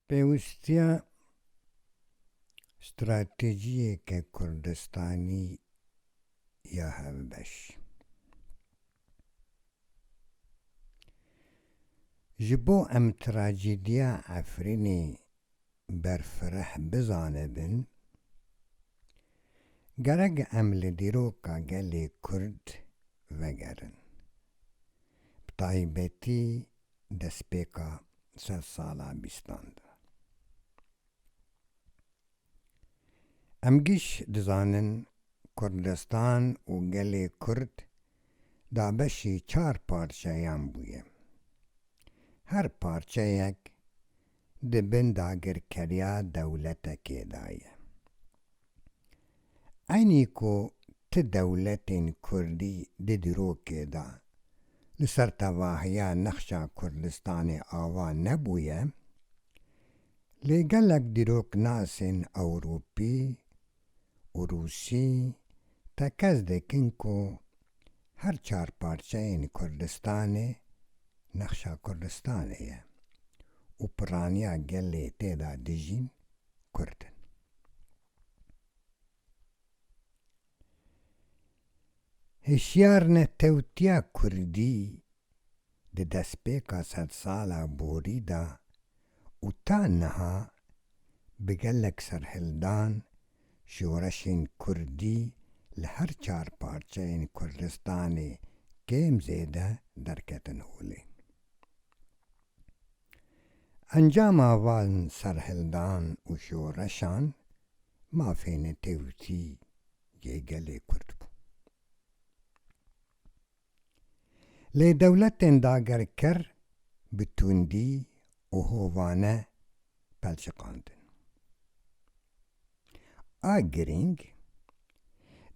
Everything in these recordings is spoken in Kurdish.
Pêwîstiya stratejiyeke Kurdistanî ya hevbeş. Ji bo em trajediya Efrînê berfireh bizanibin, gerek em li dîroka gelê Kurd vegerin. Bi taybetî destpêka sedsala bîstan de. Em giş dizanin Kurdistan û gelê Kurd dabeşî çar parçeyan bûye. Her parçeyek di bin dagirkeriya dewletekê de ye. Eynî ku ti dewletên Kurdî di dîrokê de li ser tevahiya nexşa Kurdistanê ava nebûye, Lê gelek dîroknasên Ewropî û Rûsî tekez dikin ku her çar parçeyên Kurdistanê nexşa Kurdistanê ye û piraniya gelê tê de dijîn Kurd in. Hişyarnetewtiya kurdî di destpêka sedsala borî de û ta niha bi gelek serhildan şoreşên kurdî li her çar parçeyên Kurdistanê kêm zêde derketin holê. Encama van serhildan û şoreşan Mafê netewtî yê gelê Kurd bû. Lê dewletên dagerker bi tundî û hovane pelçiqandin. A girîng,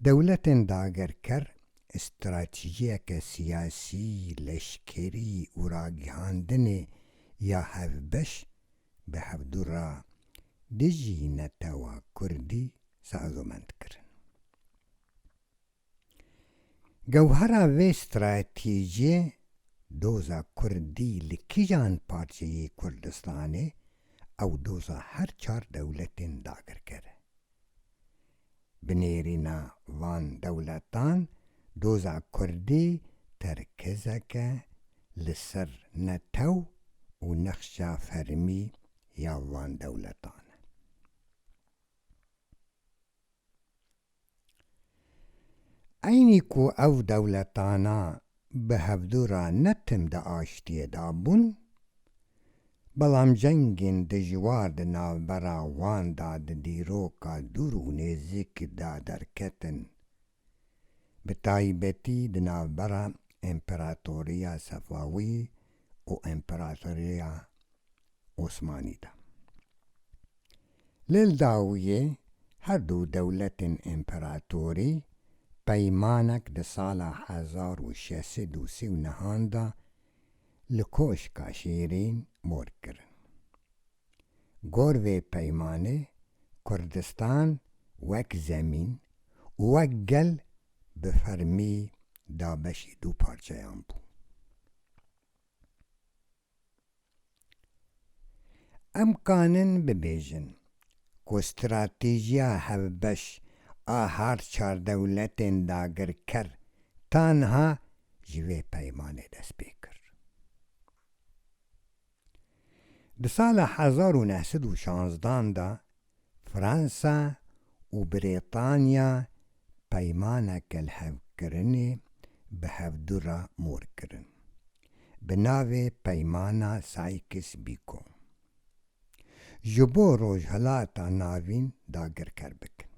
dewletên dagerker stratejiyeke siyasî, leşkerî û ragihandinê ya hevbeş bi hevdu re dijî netewa kurdî sazomend kirin. Gewhera vê stratejiyê doza kurdî li kîjan parçeyê Kurdistanê ew doza her çar dewletên dagirker e. Binêrîna van dewletan doza kurdî terkizeke li ser netew û nexşa fermî ya van dewletan e. Eynî ku ev dewletana bi hevdu re ne tim di aştiyê de bûn, belam cengên dijwar di navbera wan de di dîroka dûr û nêzik de derketin, bi taybetî di navbera Împeratoriya Sefawî û Împeratoriya Osmanî de. Lê li dawiyê her du dewletên împeratorî peymanek di sala hezar û şeş sed û sî û nihan de li Koşka Şîrîn mor kirin. Gor vê peymanê Kurdistan wek zemîn û wek gel bi fermî dabeşî du parçeyan bû. Em kanin bibêjin ku stratêjiya hevbeş a har çar dewletên dagirker tanha ji vê peymanê dest pê kir. Di sala hezar û neh sed û şanzdan de, Fransa û Brîtanya peymana kelhevkirinê bi hevdu re mor kirin bi navê Peymana Sykes-Picot ji bo Rojhilata Navîn dagirker bikin.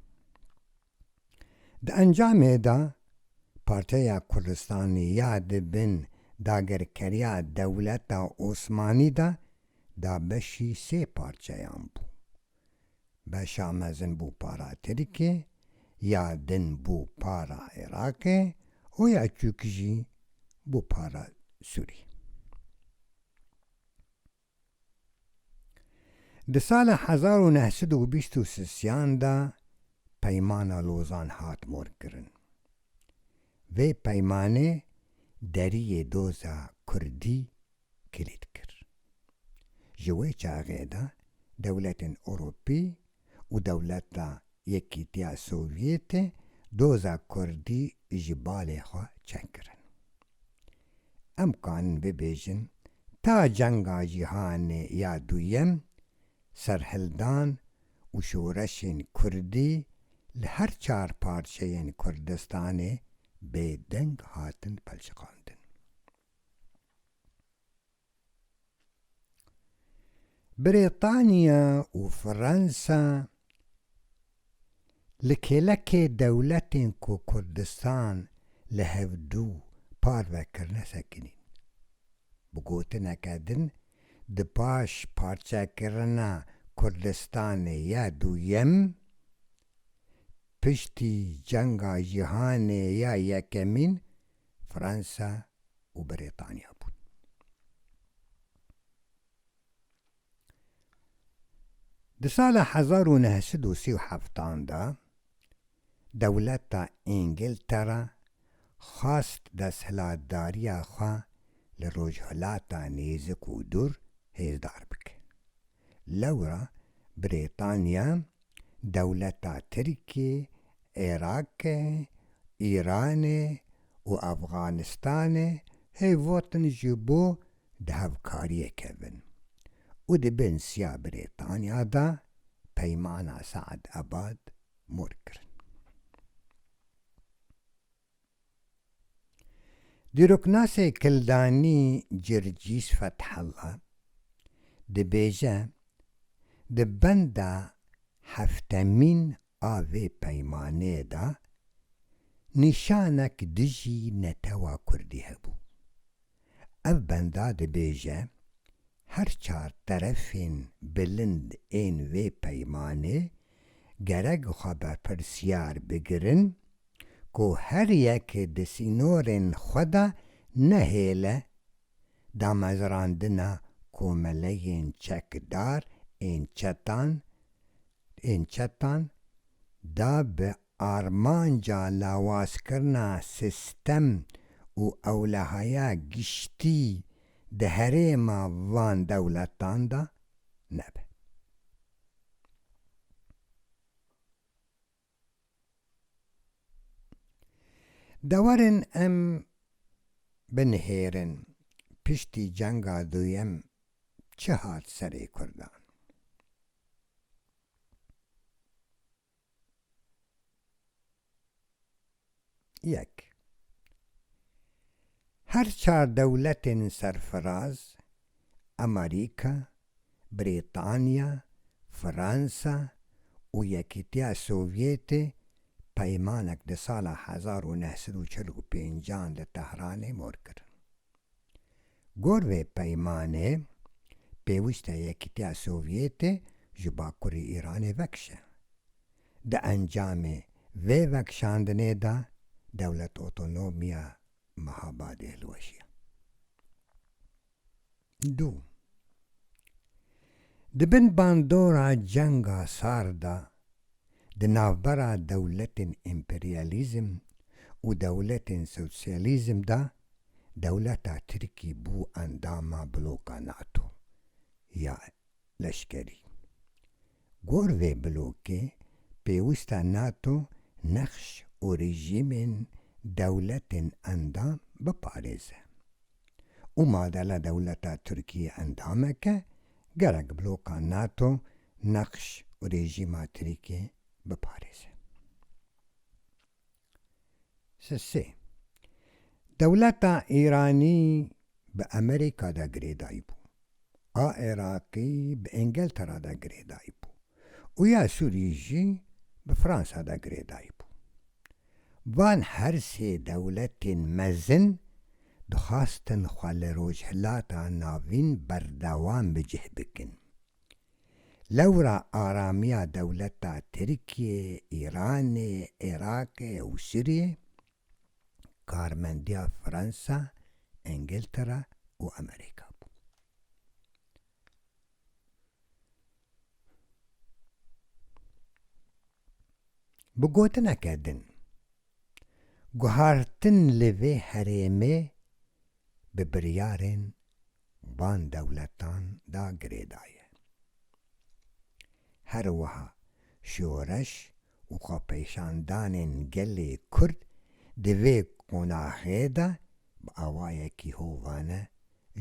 Di encamê de Parteya Kurdistanê ya di bin dagirkeriya dewleta Osmanî de da beşî sê parçeyan bû. Beşa mezin bû para Tirkê, ya din bû para Iraqê û ya çûk jî bû para Sûrî. Di sala hezar û neh sed û bîst û sian de Peymana Lozan hat morkirin. Vê peymanê deriyê doza kurdî kilît kir. Ji wê çaxê de dewletên Ewropî û dewleta Yekîtiya Sovyetê doza kurdî ji balê xwe çekirin. Em kanin bibêjin ta cenga cîhanê ya duyem serhildan û şoreşên kurdî li her çar parçeyên Kurdistanê bêdeng hatin pelçiqandin. Brîtanya û Fransa li kêlekê dewletên ku Kurdistan li hev dû parve kirine sekinîn. Bi gotineke din di paş parçekirina Kurdistanê ya duyem, piştî cenga cîhanê ya yekemîn Fransa û Brîtanya bûn. Di sala hezar û neh sed û sî û heft an de dewleta Îngiltere xwest desthilatdariya xwe li Rojhilata Nêzik û Dûr hêzdar bike. Lewra Brîtanya, dewleta Tirkiyê, Îraqê, Îranê û Efxanistanê hêvotin ji bo di hevkariyê kevin û di binsiya Brîtanya de peymana Saedabad mor kirin. Dîroknasê Kildanî Circîs Fethella dibêje, Di benda heftemîn a vê peymaneyê de nîşanek dijî netewa kurdî hebû. Ev benda dibêje, Her çar terefên bilind ên vê peymanê gerek xwe berpirsiyar bigirin, ku her yek di sînorên xwe de nehêle damezrandina komeleyên çekdar ên çetan ên çetan da bi armanca lawazkirina sistem û ewlehaya giştî di herêma van dewletan de nebe. Dewarên em binihêrin piştî cenga duyem çi hat serê kurdan? Yek. Her çar dewletên serfiraz, Amerîka, Brîtanya, Fransa û Yekîtiya Sovyetê peymanek di sala hezar û neh sed û çil û pênc an li Tehranê mor kirin. Gor vê peymanê, pêwîst e Yekîtiya Sovyetê ji bakurî Îranê vekişe. Di encamê vê vekişandinê de Dewlet Otonom ya Mehabadê hilweşiya. Du. Di bin bandora Cenga Sar de di navbera dewletên împeryalîzm û dewletên sosyalîzm de Dewleta Tirkî bû endama bloka NATO ya leşkerî. Gor vê blokê pêwist e NATO nexş û rejîmên dewletên endam biparêze û madela dewleta Tirkî endamek e, gerek bloka NATO nexş û rejîma Tirkî biparêze. Sê, dewleta Îranî bi Amerîka de girêdayî bû, a Iraqî bi Îngiltera de girêdayî bû û ya Sûrî jî bi Fransa de girêdayî bû. Van her sê dewletên mezin dixwastin xwe li Rojhilata Navîn berdewam bi cih bikin. Lewra aramiya dewleta Tirkiyê, Îranê, Iraqê û Sûriyê, karmendiya Fransa, Îngiltera û Amerîka bû. Bi gotineke din, guhartin li vê herêmê bi biryarên van dewletan da girêdaye. Her wiha şoreş û xwepêşandanên gelê Kurd di vê qonaxê de bi awayekî hovane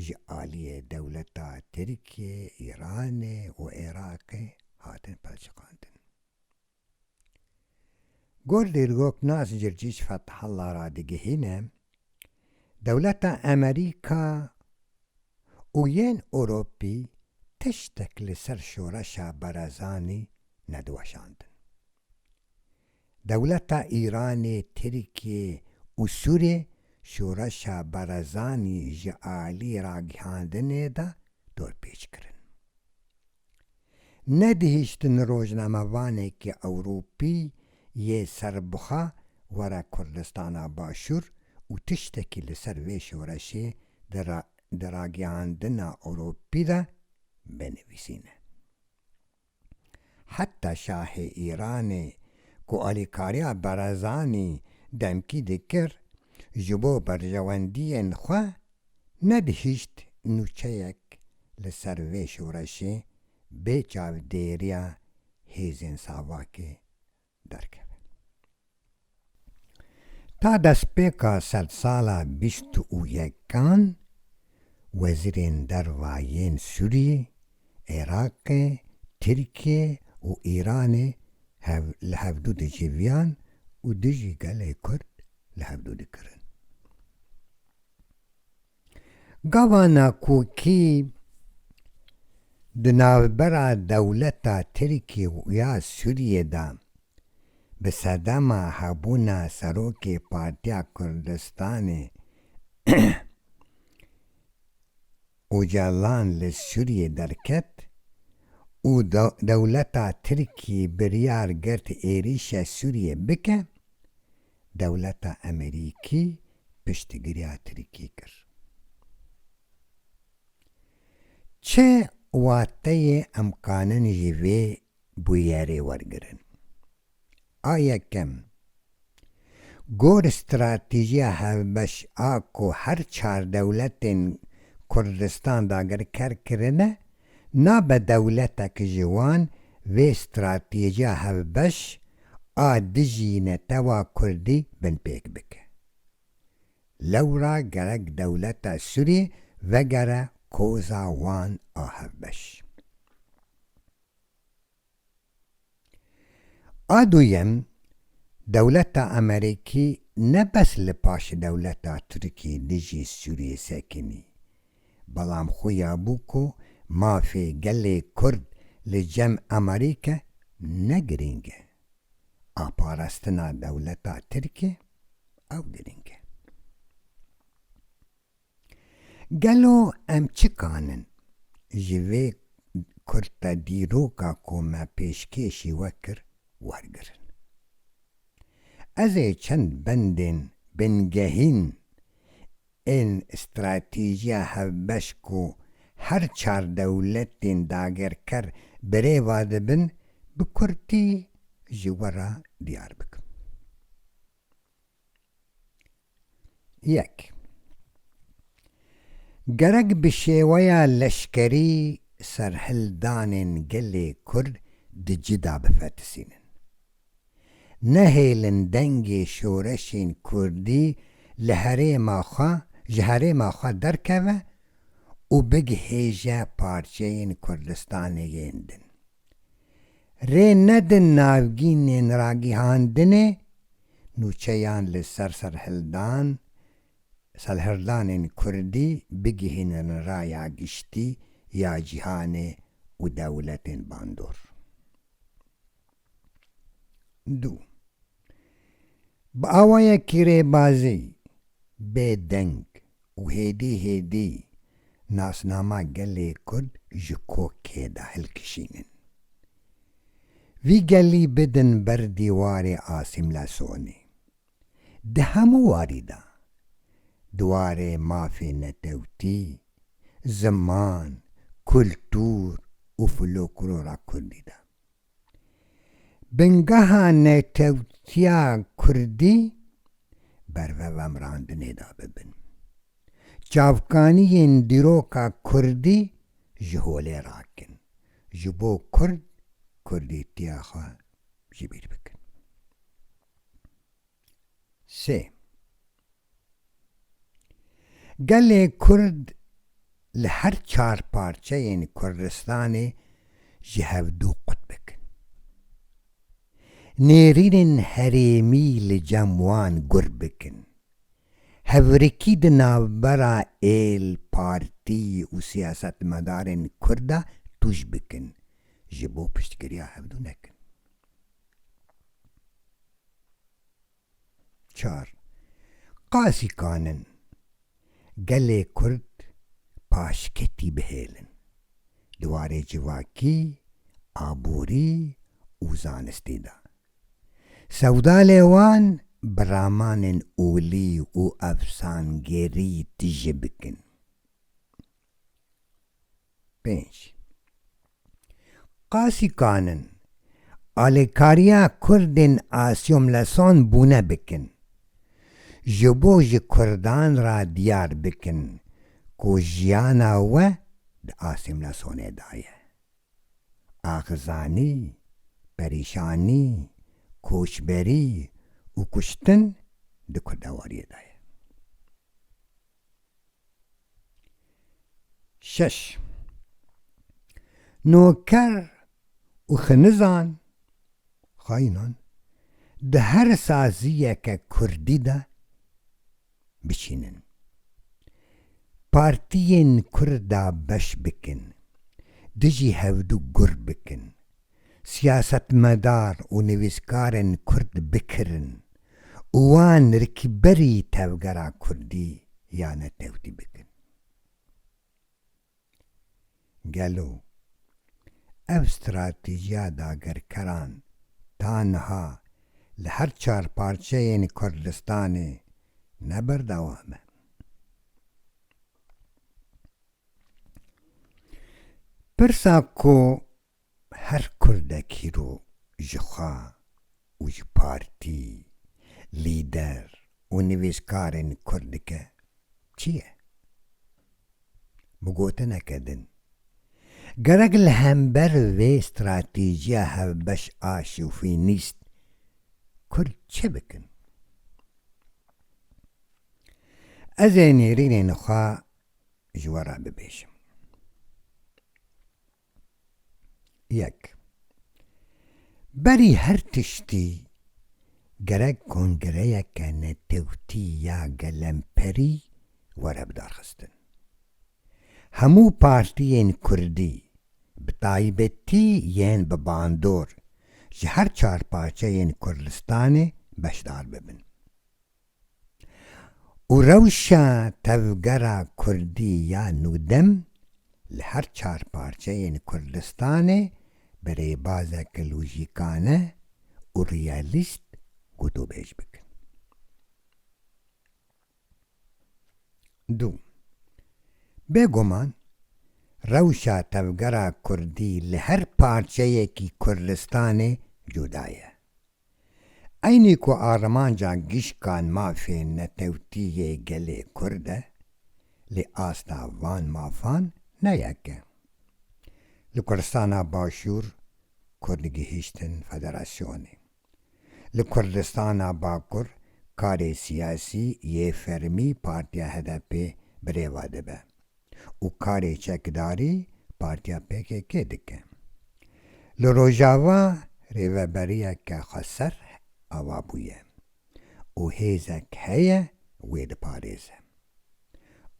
ji aliyê dewleta Tirkiyê, Îranê û Êraqê hatin pelçiqandin. Gor Dîrgok Nas Circîc Fethalla radigihîne, dewleta Emerîka û yên Ewropî tiştek li ser şoreşa Barazanî nediweşandin. Dewleta Îranê, Tirkiyê û Sûriyê şoreşa Barazanî ji alî ragihandinê de dorpêç kirin. Nedihiştin rojnamevanekî ewropî yê serbixwe were Kurdistana Başûr û tiştekî li ser vê şoreşê di ragihandina ewropî de binivîsîne. Heta şahê Îranê ku alîkariya Barazanî demkî dikir ji bo berjewendiyên xwe Nebihîşt nûçeyek li ser vê şoreşê bê çavdêriya hêzên Savakê derkeve. Ta destpêka sedsala bîst û yekan wezîrên derva yên Sûriyê, Iraqê, Tirkiyê û Îranê hev li hevdû diciviyan û dijî gelê Kurd li hevdû dikirin. Gavana kokî di navbera dewleta Tirkî û ya Sûriyê de bi sedema hebûna Serokê Partiya Kurdistanê Ocalan li Sûriyê derket û dewleta Tirkî biryar girt êrîşa Sûriyê bike, dewleta Emerîkî piştgiriya Tirkî kir. Çi wateyê em kanin ji vê bûyerê wergirin? A yekem, gor stratîjiya hevbeş a ku her çar dewletên Kurdistan dagirker kirine, Nabe dewletek ji wan vê stratêjiya hevbeş a dijî netewa kurdî binpêk bike. Lewra gerek dewleta Sûrî vegere koza wan a hevbeş. A duyem, dewleta Amerîkî ne bes li paşê dewleta Tirkiyê dijî Sûriyê sekinî, belam xuya bû ku mafê gelê Kurd li cem Amerîke ne girîng e. A parastina dewleta Tirkiyê ew girîng e. Gelo em çi kanin ji vê kurta dîroka ku me pêşkêşî we kir wergirin? Ez ê çend bendên bingehîn ên stratîjiya hevbeş ku her çar dewletên dagerker bi rê ve dibin bi kurtî ji we re diyar bikim. Yek. Gerek bi şêweya leşkerî serhildanên gelê Kurd di ci de bifetisînin. Nehêlin dengê şoreşên Kurdî li herêma xwe ji herêma xwe derkeve û bigihêje parçeyên Kurdistanê yên din. Rê nedin navgînên ragihandinê nûçeyan li ser serhildan serhildanên kurdî bigihînin raya giştî ya cîhanê û dewletên bandor. Du. Bi awayekî rêbazî, bêdeng û hêdî hêdî nasnama gelê Kurd ji kokê de hilkişînin. Vî gelî bidin ber dîwarê asîmlesonê. Di hemû warî de, di warê mafê netewtî, ziman, kultur û floklora Kurdî de. Bingeha netewtiya kurdî berve vemrandinê de bibin. Çavkaniyên dîroka kurdî ji holê rakin, ji bo kurd kurdîtiya xwe ji bîr bikin. Sê. Gelê Kurd li her çar parçeyên Kurdistanê ji hev du qutbek in. Nêrînên herêmî li cem wan gur bikin. Hevrikî di navbera êl, partî û siyasetmedarên Kurd de tûj bikin, ji bo piştgiriya hev du nekin. Çar, Qasîkan in gelê Kurd paşketî bihêlin di warê civakî, aborî û zanistî de. Sewdalê wan bi ramanên olî û efsangêrî tije bikin. Pênc. Qasî kanin alêkariya kurdên asîomleson bûne bikin, ji bo ji kurdan re diyar bikin ku jiyana we di asîmlesonê de ye. Axizanî, perîşanî, koçberî û kuştin di kurdewariyê de ye. Şeş Noker û xinizan, xaînan, di her saziyeke kurdî de biçînin, partiyên kurd de beş bikin, dijî hevdu gur bikin. siyasetmedar û nivîskarên kurd bikirin û wan rikberî tevgera kurdî ya netewtî bikin. Gelo ev stratîjiya dagerkeran ta niha li her çar parçeyên Kurdistanê ne berdewam e? Pirsa ku Her kurdek îro ji xwe û ji partî, lîder û nivîskarên kurd dike çi ye? Bi gotineke din, gerek li hember vê stratîjiya hevbeş a şovînîst kurd çi bikin? Ez ê nêrînên xwe ji we re bibêjim. Yek, berî her tiştî gerek kongreyeke netewtî ya gelemperî were bidarxistin. Hemû partiyên kurdî, bi taybetî yên bi bandor ji her çar parçeyên Kurdistanê beşdar bibin. û rewşa tevgera kurdî ya nûdem li her çar parçeyên Kurdistanê bi rêbazeke lojîkane û realîst gotûbêj bikin. Du. Bêguman rewşa tevgera kurdî li her parçeyekî Kurdistanê cuda ye. Eynî ku armanca gişkan mafê netewtî yê gelê Kurd e, lê asta van mafan ne yek e. Li Kurdistana Başûr Kurd gihîştin federasyonê. Li Kurdistana Bakur karê siyasî yê fermî partiya HDP'ê bi rêva dibe. û karê çekdarî partiya pkk dike. Li Rojava rêveberiyeke xweser ava bûye û hêzek heye wê diparêze.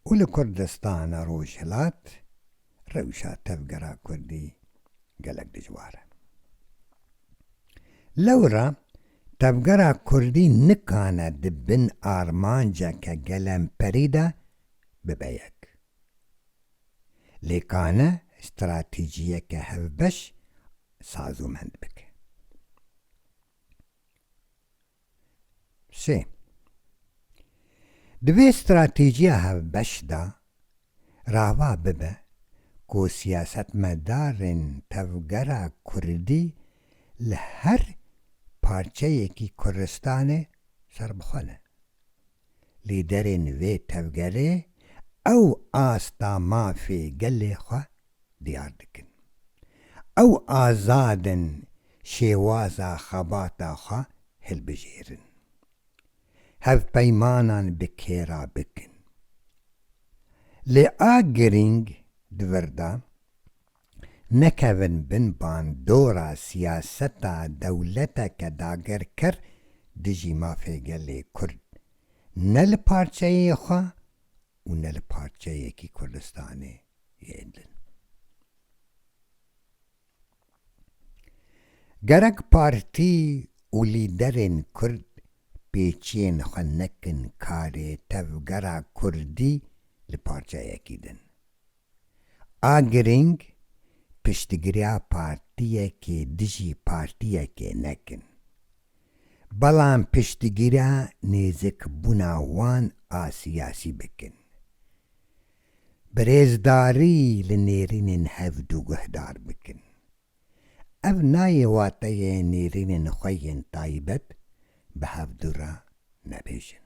Û li Kurdistana Rojhilat rewşa tevgera kurdî gelek dijwar e. Lewra tevgera kurdî nikane di bin armanceke gelemperî de bibe yek. Lê ka ne stratejiyeke hevbeş sazûmend bike. Sê, di vê stratejiya hevbeş de rava bibe ku siyasetmedarên tevgera kurdî li her parçeyekî Kurdistanê serbixwe ne. lîderên vê tevgerê ew asta mafê gelê xwe diyar dikin. Ew azad in şêwaza xebata xwe hilbijêrin. Hevpeymanan bi kêra bikin. Lê a girîng di vir de, nekevin bin bandora siyaseta dewleteke dagirker dijî mafê gelê Kurd ne li parçeyê xwe û ne li parçeyekî Kurdistanê yê din. Gerek partî û lîderên Kurd pêçiyên xwe nekin karê tevgera Kurdî li parçeyekî din. A girîng piştgiriya partiyekê dijî partiyekê nekin, belan piştgiriya nêzikbûna wan a siyasî bikin. Bi rêzdarî li nêrînên hev du guhdar bikin. Ev nayê wateyê nêrînên xwe yên taybet bi hev du re nebêjin.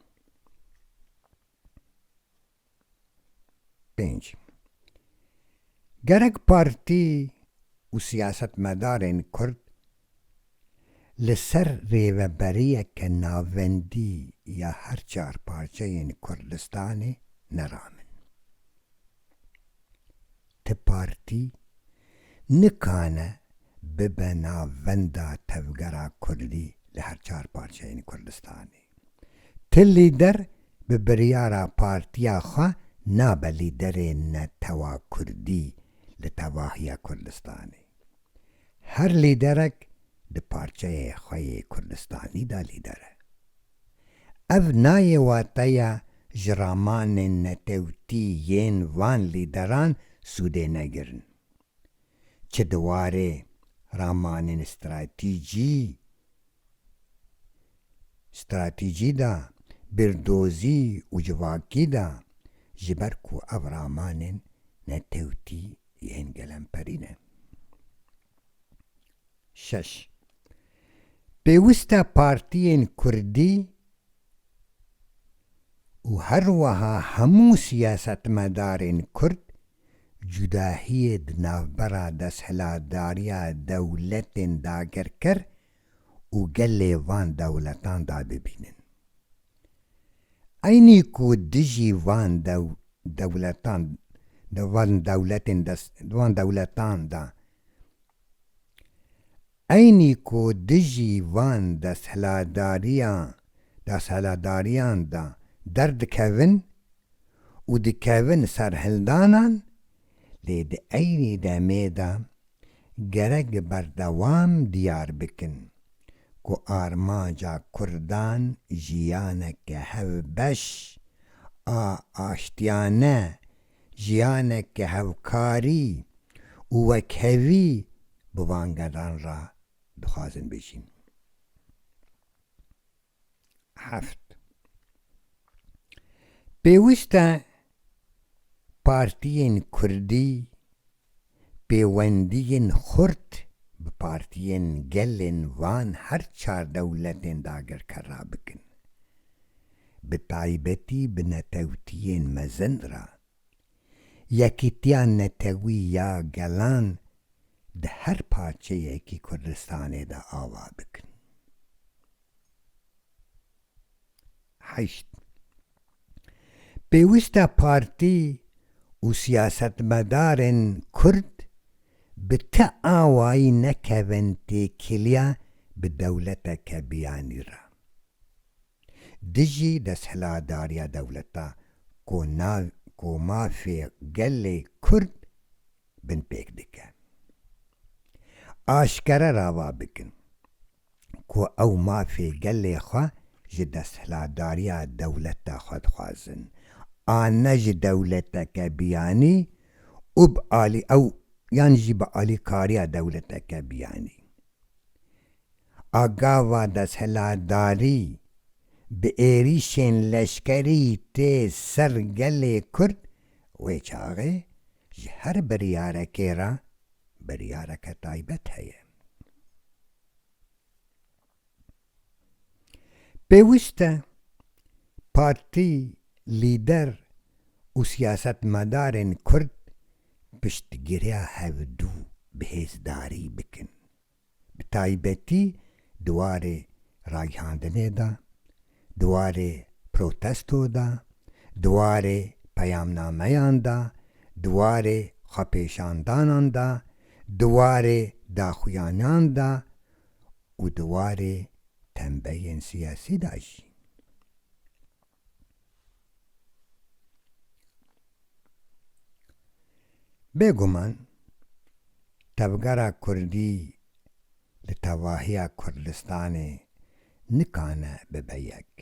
Pênc, Gerek partî û siyasetmedarên kurd li ser rêveberiyeke navendî ya her çar parçeyên Kurdistanê neramin. Ti partî nikane bibe navenda tevgera kurdî li her çar parçeyên Kurdistanê. Ti lîder bi biryara partiya xwe nabe lîderê netewa kurdî li tevahiya Kurdistanê. Her lîderek di parçeyê xwe yê Kurdistanî de lîder e. Ev nayê wateya ji ramanên netewtî yên van lîderan sûdê negirin. Çi di warê ramanên stratîcî stratîcî de, bîrdozî û civakî de, ji ber ku ev ramanên netewtî yên gelemperî ne. Şeş. Pêwist e partiyên kurdî, û her weha hemû siyasetmedarên kurd cudahiyê di navbera desthilatdariya dewletên dagirker û gelê van dewletan de bibînin. Eynî ku dijî van dewletan di van dewletên di van dewletan de Eynî ku dijî van desthilatdariyan desthilatdariyan de derdikevin û dikevin ser hildanan lê di eynî demê de gerek bi berdewam diyar bikin ku armanca kurdan jiyaneke hevbeş a aştiyane jiyaneke hevkarî û wekhevî bi van gelan re dixwazin bijîn. Heft, Pêwîst e partiyên kurdî pêwendiyên xurt bi partiyên gelên van her çar dewletên dagirker re bikin, bi taybetî bi netewtiyên mezin re. Yekîtiya netewî ya gelan di her parçeyekî Kurdistanê de ava dikin. Heşt. Pêwîst e partî û siyasetmedarên Kurd bi ti awayî nekevin têkiliya bi dewleteke biyanî re dijî desthilatdariya dewleta ku ku mafê gelê Kurd binpêk dike, aşkere rava bikin. ku ew mafê gelê xwe ji desthilatdariya dewleta xwe dixwazin a ne ji dewleteke biyanî û bi alî ew yan jî bi alîkariya dewleteke biyanî. A gava desthilatdarî bi êrîşên leşkerî tê ser gelê Kurd wê çaxê Ji her biryarekê re biryareke taybet heye. Pêwîst e partî, lîder û siyasetmedarên Kurd piştgiriya hevdû bi hêzdarî bikin. bi taybetî di warê ragihandinê de, di warê protesto de, di warê peyamnameyan de, di warê xwepêşandanan de, di warê daxuyanan de û di warê tembeyên siyasî de jî. Bêguman tevgera kurdî li tevahiya Kurdistanê nikane bibe yek.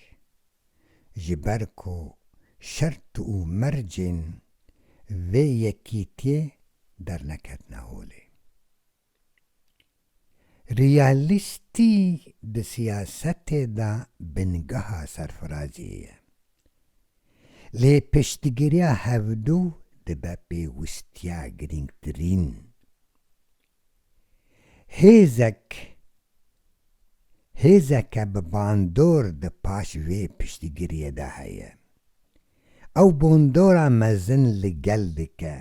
Ji ber ku şert û mercên vê yekîtiyê derneketine holê. Realîstî di siyasetê de bingeha serfiraziyê ye. Lê piştgiriya hevdu dibe pêwistiya girîngtirîn. Hêzek hêzeke bi bandor di paş vê piştgiriyê de heye. Ew bondora mezin li gel dike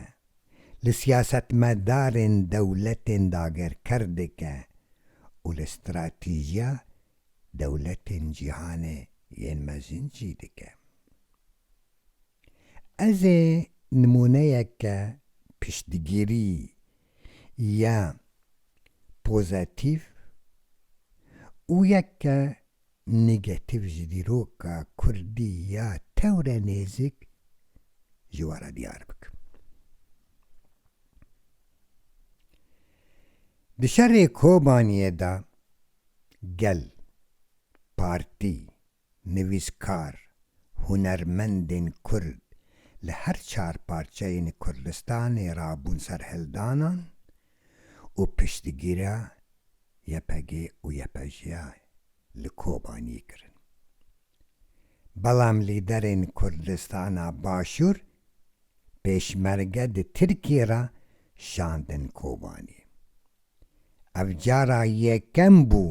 li siyasetmedarên dewletên dagerker dike û li stratîjiya dewletên cîhanê yên mezin jî dike. Ez ê nimûneyeke piştgirî ya pozatîf û yek ke negatîf ji dîroka kurdî ya tewre nêzik ji we re diyar bikim. Di şerê Kobaniyê de gel, partî, nivîskar, hunermendên kurd li her çar parçeyên Kurdistanê re bûn serhildanan û piştgîriya YPG û YPJ'a li Kobaniyê kirin. Belam lîderên Kurdistana Başûr pêşmerge di Tirkiyê re şandin Kobaniyê. Ev cara yekem bû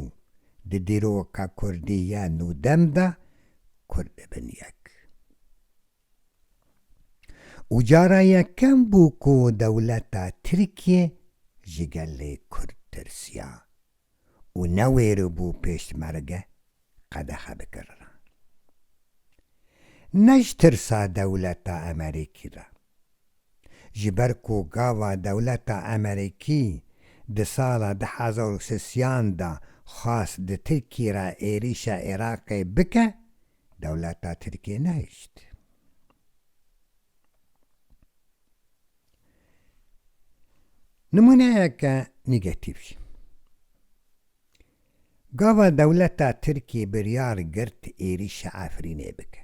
di dîroka kurdî ya nûdem de Kurd dibin yek. û cara yekem bû ku dewleta Tirkiyê ji gelê Kurd tirsiya û newêribû pêşmerge qedexe bikiriran. Ne ji tirsa dewleta Emerîkî re. Ji ber ku gava dewleta Emerîkî di sala du hezar û sisiyan de xwest di Tirkiyê re êrîşa Iraqê bike, Dewleta Tirkiyê nehişt. Nimûneyeke nîgetîf jî. Gava dewleta Tirkiyê biryar girt êrîşa Efrînê bike.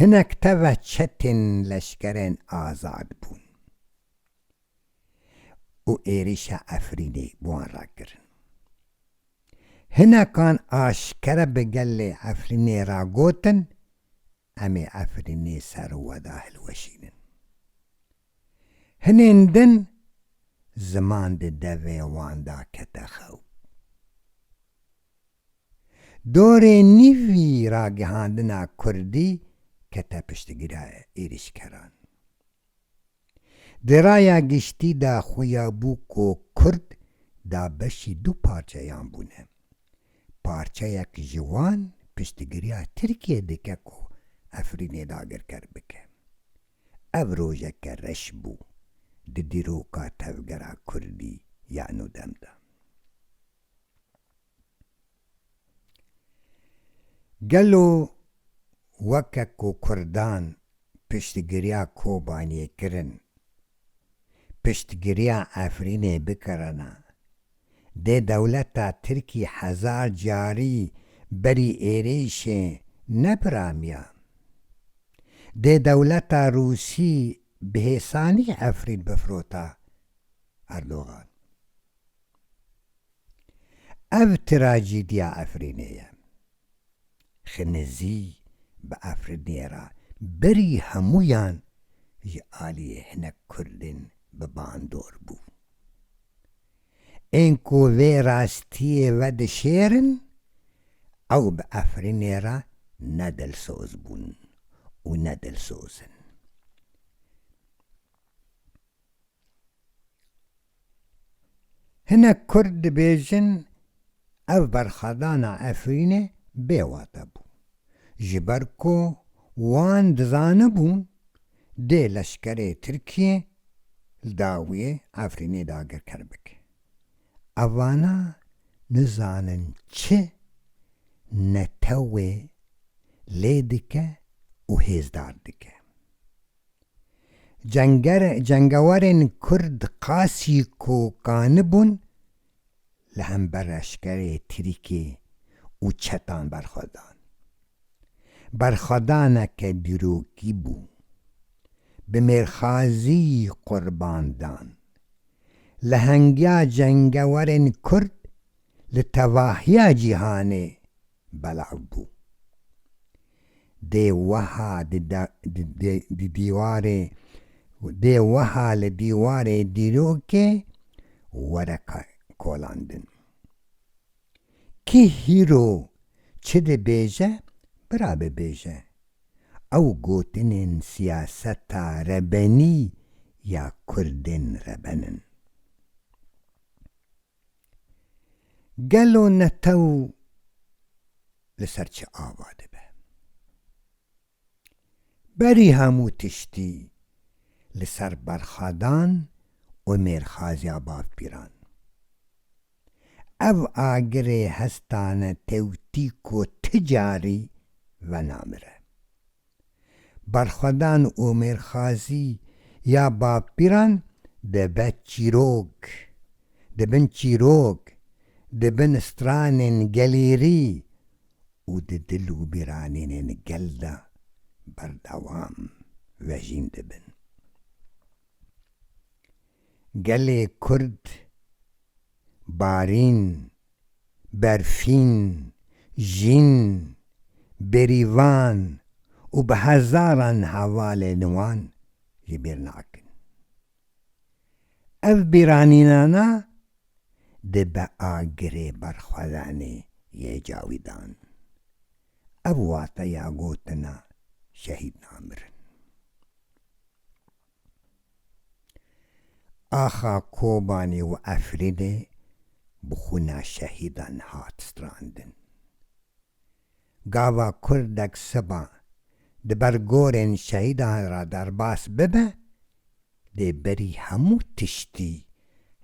Hinek teve çetên leşkerên azad bûn û êrîşa Efrînê bi wan re kirin. Hinekan aşkere bi gelê Efrînê re gotin, Em ê Efrînê ser û we de hilweşînin. Hinên din ziman di devê wan de kete xew. Dorê nîvî ragihandina kurdî kete piştgîra êrîşkeran. Di raya giştî de xuya bû ku kurd da beşî du parçeyan bûne. Parçeyek ji wan piştgiriya Tirkiyê dike ku Efrînê dagirker bike. Ev rojeke reş bû di dîroka tevgera kurdî ya nûdem de. Gelo weke ku Kurdan piştgiriya Kobaniyê kirin, piştgiriya Efrînê bikirina, dê dewleta Tirkî hezar carî berî êrîşê nepiramiya? Dê dewleta Rûsî bi hêsanî Efrîn bifirota? Erdogan. Ev trajîdya Efrînê ye. Xinizî bi Efrînê re berî hemûyan ji aliyê hinek Kurdên bi bandor bû. Ên ku vê rastiyê vedişêrin ew bi Efrînê re ne dilsoz bûn û ne dilsoz in. Hinek kurd dibêjin ev berxwedana Efrînê bê wate bû. Ji ber ku wan dizanibûn dê leşkerê Tirkiyê li dawiyê Efrînê dagirker bike. Evana nizanin çi netewê lê dike û hêzdar dike. Cenger, cengewarên Kurd qasî kokanî bûn li hember leşkerê Tirkê û çetan berxwedan. Berxwedaneke dîrokî bû. Bi mêrxazî qurban dan. Lehengiya cengewarên Kurd li tevahiya cîhanê belav bû. Dê weha di dîwarê dê weha li dîwarê dîrokê were kolandin. Kî hîro çi dibêje bira bibêje. Ew gotinên siyaseta rebenî ya kurdên reben in. Gelo netew li ser çi ava dibe? Berî hemû tiştî li ser berxwedan û mêrxaziya bavpîran. Ev agirê hestane tewtîk û ti carî venamire. Berxwedan û mêrxazî ya bavpîran dibe çîrok, dibin çîrok, dibin stranên gelêrî û di dil û bîranînên gel de berdewam vejîn dibin. Gelê Kurd barîn berfîn, jîn, berîvan û bi hezaran hevalên wan ji bîr nakin. Ev bîranînana dibe agirê berxwedanê yê cawidan. Ev wateya gotina şehîd namirin. Axa Kobanî û Efrînê bi xwîna şehîdan hat strandin. Gava kurdek seba di ber gorên şehîdan re derbas bibe, dê berî hemû tiştî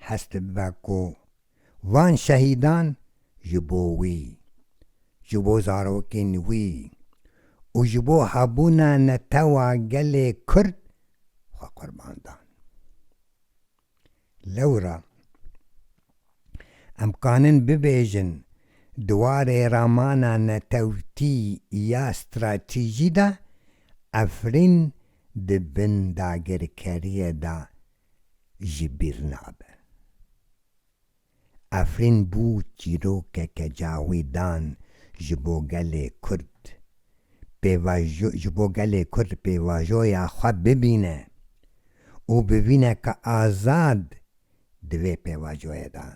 hest bibe ku van şehîdan ji bo wî, ji bo zarokên wî û ji bo hebûna netewa gelê Kurd xwe qurban dan. Lewra em kanin bibêjin di warê ramana netewtî ya stratejî de Efrîn di bin dagirkeriyê de ji bîr nabe. Efrîn bû çîrokeke cawidan ji bo gelê Kurd. Pêvajo ji bo gelê Kurd pêvajoya xwe bibîne û bivîne ka azad di vê pêvajoyê de.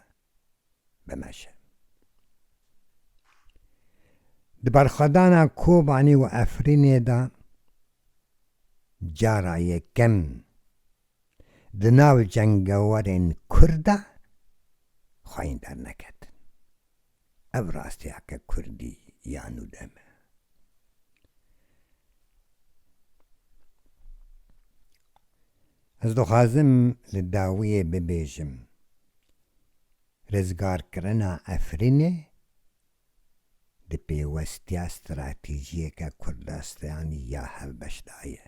bimeşe. Di berxwedana Kobanî û Efrînê de cara yekem di nav cengewerên Kurd de xwayîn derneketin. Ev rastiyeke Kurdî ya nû de me. Ez dixwazim li dawiyê bibêjim, rizgarkirina Efrînê di pêwestiya stratejiyeke Kurdastanî ya hevbeş de ye.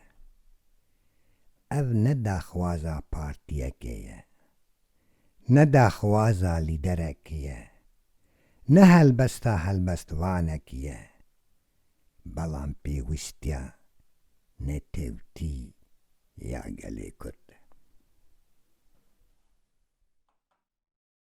Ev ne daxwaza partiyekê ye, ne daxwaza lîderekî ye, ne helbesta helbestvanekî ye, belan pêwîstiya netewtî ya gelê Kurd e.